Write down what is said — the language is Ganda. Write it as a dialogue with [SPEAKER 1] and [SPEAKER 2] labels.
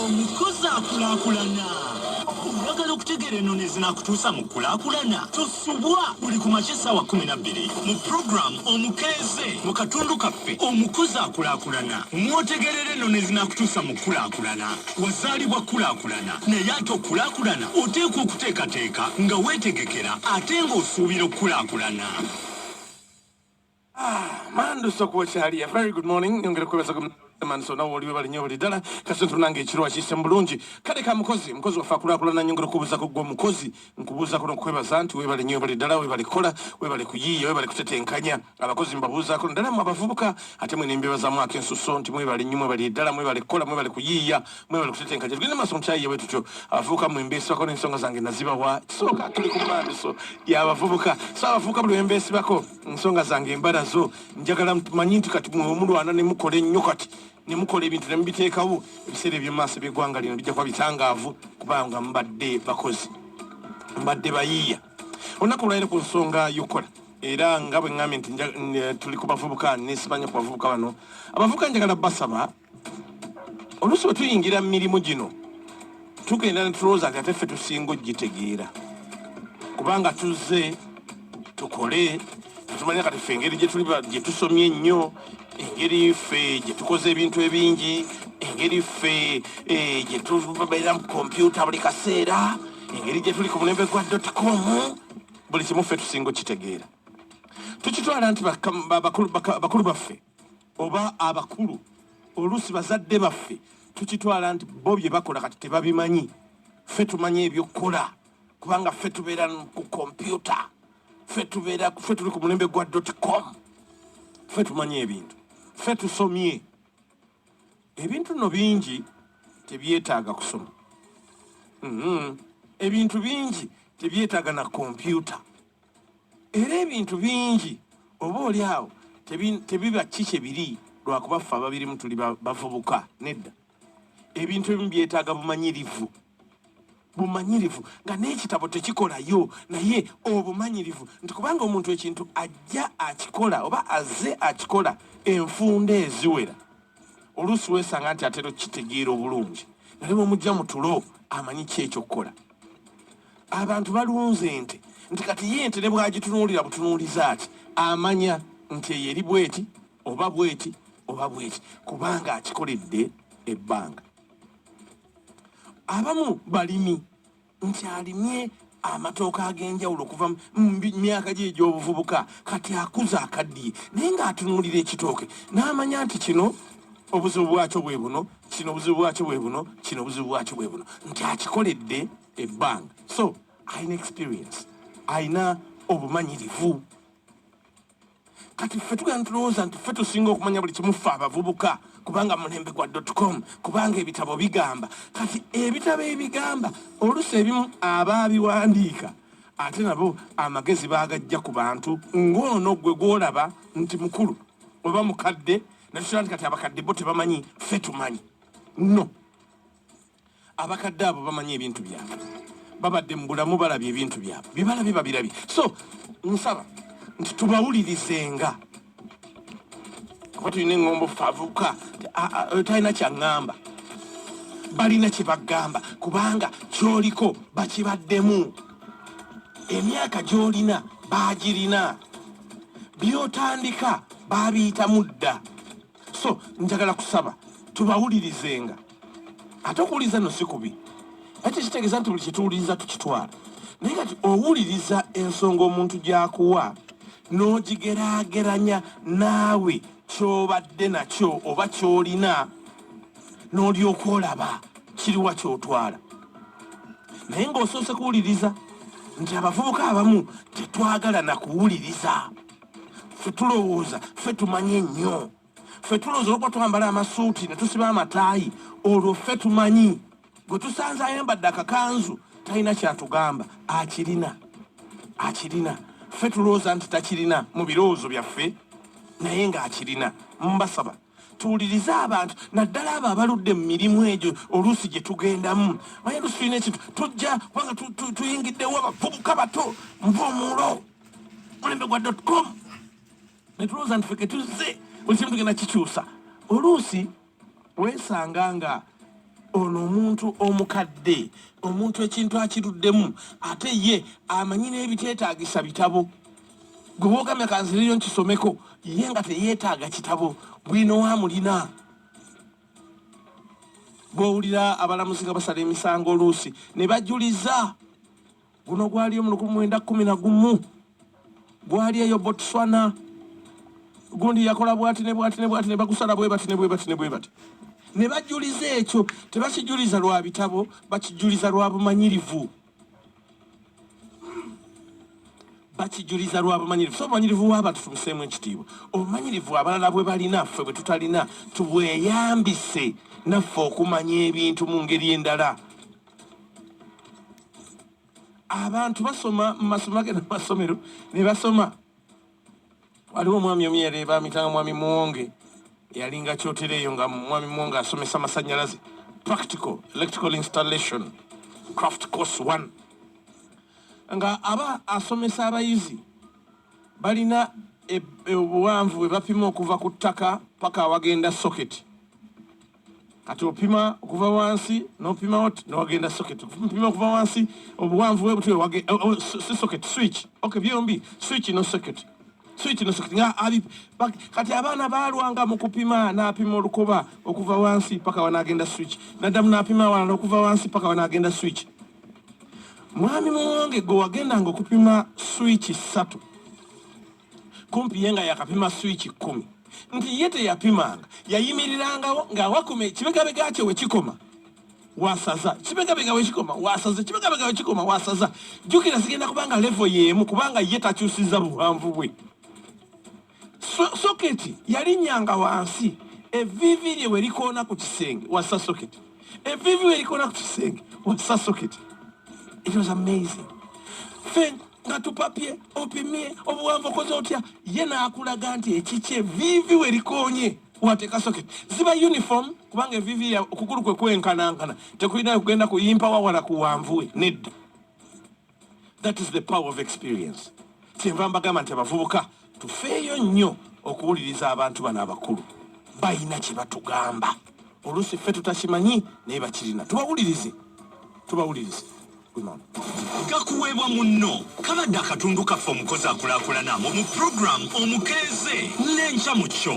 [SPEAKER 1] omukozi akulakulana oyagala okutegeera enono ezinakutuusa mu kulakulana tosubwa buli ku makya essaawa 12 mu puroguramu omukeeze mu katundu kaffe omukozi akulakulana mwotegerera enono ezinakutuusa mu kulakulana wazaalibwa kulakulana naye ate okulakulana oteekwa okuteekateeka nga weetegekera ate ng'osuubira okulakulana Ah,
[SPEAKER 2] mandu sokuwa kyaliya very good morning nyongera kwebaza manso nawe oliwe balinyo buli ddala kasi tunanga ekiro akiyise mulungi kale ka mukozi mukozi waffe akulakulana nyongera okubuuzako gwe omukozi nkubuuzako nokukwebaza nti webale nyo buli ddala webale kukola webale kuyiiya webale kutetenkanya abakozi mbabuuzako naddala mu abavubuka ate mwe nembebazamu akensuso nti mwebale nyo mwebale ddala mwebale kukola mwebale kuyiiya mwebale kutetenkanya tugende maaso mukyayiye bwe tutyo abavubuka mwe mbeesibako n'ensonga zange nazibawa kisooka tuli ku mandiso y'abavubuka so abavubuka buli wembeesibako ensonga zange embala zo njagala manyi nti kati mwemulwana nemukola ennyo kati nemukola ebintu nemubiteekawo ebiseera ebyomumaaso byegwanga lino bijja kuba bitangaavu kubanga mubadde bakozi mubadde bayiiya olunaku olwaliro ku nsonga yokukola era nga bwe ŋambye nti eh, tuli ku bavubuka nesibanya ku bavubuka bano abavubuka njagala basaba oluusi bwe tuyingira mu mirimu gino tugenda ne tulowooza nti ate ffe tusinga okugitegeera kubanga tuzze tukole tetumanya kati ffe engeri gye tusomye ennyo engeri ffe gye tukoze ebintu ebingi engeri ffe eh, gye tubeera mu kompyuta buli kaseera engeri gye tuli ku mulembe gwa dotcom buli kimu ffe tusinga okitegeera tukitwala nti bakulu baffe oba abakulu oluusi bazadde baffe tukitwala nti bo bye bakola kati tebabimanyi ffe tumanyi ebyokukola kubanga ffe tubeera ku kompyuta ffe tubeera ffe tuli ku mulembe gwa dotcom ffe tumanyi ebintu ffe tusomye ebintu no bingi tebyetaaga kusoma mm-hmm. ebintu bingi tebyetaaga na kompyuta era ebintu bingi oba oli awo tebiba ki kye biri lwakuba ffe ababirimu tuli bavubuka nedda ebintu ebimu byetaaga bumanyirivu bumanyirivu nga n'ekitabo tekikolayo naye obumanyirivu nti kubanga omuntu ekintu ajja akikola oba azze akikola enfunda eziwera oluusi weesanga nti atera okukitegeera obulungi naye bwemujja mutulo amanyi ki ekyokukola abantu balunze ente nti kati ye ente ne bwagitunuulira butunuuliza ati amanya nti eyo eri bweti oba bweti oba bweti kubanga akikoledde ebbanga abamu balimi nti alimye amatooka ag'enjawulo okuva mu myaka gye egy'obuvubuka kati akuza akaddiye naye ng'atunuulira ekitooke n'amanya nti kino obuzibu bwakyo bwe buno kino obuzibu bwakyo bwe buno kino obuzibu bwakyo bwe buno nti akikoledde ebbanga so alina experience alina obumanyirivu kati ffe tugenda tulowooza nti ffe tusinga okumanya buli kimu ffe abavubuka kubanga mulembe gwa dotcom kubanga ebitabo bigamba kati ebitabo ebigamba oluusi ebimu abaabiwandiika ate nabo amagezi baagajja ku bantu ng'ono gwe gwolaba nti mukulu oba mukadde natukyala nti kati abakadde bo tebamanyi ffe tumanyi no abakadde abo bamanyi ebintu byabwe babadde mu bulamu balabye ebintu byabwe byebalabye babirabye so nsaba nti tubawulirizenga kuba tulina eŋŋombo favuka talina kyaŋŋamba balina kye bagamba kubanga kyoliko bakibaddemu emyaka gy'olina baagirina byotandika baabiyitamu dda so njagala kusaba tubawulirizenga ate okuwuliriza no si kubi ate kitegeeza nti buli kyetuwuliriza tukitwala naye kati owuliriza ensonga omuntu gyakuwa n'ogigerageranya naawe kyobadde nakyo oba kyolina n'olyoka olaba kiriwa kyotwala naye ng'osoose kuwuliriza nti abavubuka abamu tetwagala na kuwuliriza ffe tulowooza ffe tumanyi ennyo ffe tulowooza olwokuba twambala amasuuti ne tusiba amataayi olwo ffe tumanyi gwe tusanze ayambadde akakanzu talina kyatugamba akirina akirina ffe tulowooza nti takirina mu birowoozo byaffe naye ng'akirina mbasaba tuwulirize abantu naddala abo abaludde mu mirimu egyo oluusi gye tugendamu maye lusi tulina ekintu tujja kubanga tuyingiddewo abavubuka bato nva omulo mulembe gwa dot com netulowooza nti feke tuzze buli kimu tugenda kikyusa oluusi weesanga nga ono omuntu omukadde omuntu ekintu akiruddemu ate ye amanyi n'ebiteetaagisa bitabo gwe boogamya kanziriyo nkisomeko ye nga teyeetaaga kitabo bwino wamulina bwowulira abalamuzi nga basala emisango oluusi ne bajuliza Guno gwaliyo mu lukumi mwenda kumi na gumu gwali eyo Botswana. Gundi yakola bwati ne bwati ne bwati ne bagusala bwe bati ne bwe bati ne bwe bati ne bajuliza ekyo. Tebakijuliza lwa bitabo, bakijuliza lwa bumanyirivu, bakijuliza lwa bumanyirivu. So obumanyirivu w'abantu tumuseemu ekitiibwa. Obumanyirivu abalala bwe balina ffe bwe tutalina tubweyambise naffe okumanya ebintu mu ngeri endala. abantu basoma mu masomo agenda masomero ne basoma waliwo omwami omu yali bamitanga mwami muwonge yalinga kyotera eyo nga mwami muwonge asomesa amasanyalaze practical electrical installation craft course one nga aba asomesa abayizi balina e, e, obuwanvu bwe bapima okuva ku ttaka paka awagenda socket kati opima okuva wansi nopimawo newagenda socket opima okuva wansi obuwanvu bwe butwe wage oh, oh, si socket switch ok byombi switch no socket switch no socket nga ali kati abaana balwanga mu kupima napima olukoba okuva wansi paka wanagenda switch nadamu napima awalala okuva wansi paka wanagenda switch mwami muwange gwe wagendanga okupima switch satu kumpi ye nga yakapima swiiki kkumi nti ye teyapimanga yayimirirangawo ng'awakuma ekibegabega kye we kikoma wasaza kibegabega we kikoma wasaza kibegabega we kikoma wasaza jjukira zigenda kubanga levo y'emu kubanga ye takyusizza buwanvu bwe soketi yalinyanga wansi eviivi lye we likoona ku kisenge wassa soketi eviivi we likoona ku kisenge wassa soketi it was amazing Fin nga tupapye opimye obuwanvu okoze otya ye n'akulaga nti ekikye viivi we likoonye wateeka socket ziba uniform kubanga eviivi ya okugulu kwe kwenkanankana tekulina kugenda kuyimpa wawala ku wanvu we nedda that is the power of experience kyenva mbagamba nti abavubuka Tufeeyo nnyo okuwuliriza abantu bano abakulu, balina kye batugamba. Oluusi ffe tutakimanyi naye bakirina. Tubawulirize,
[SPEAKER 1] tubawulirize. gakuweebwa munno kabadde akatundu kaffe omukozi akulaakulana mu mu pulogulaamu omukeeze n'enkya mu kyo.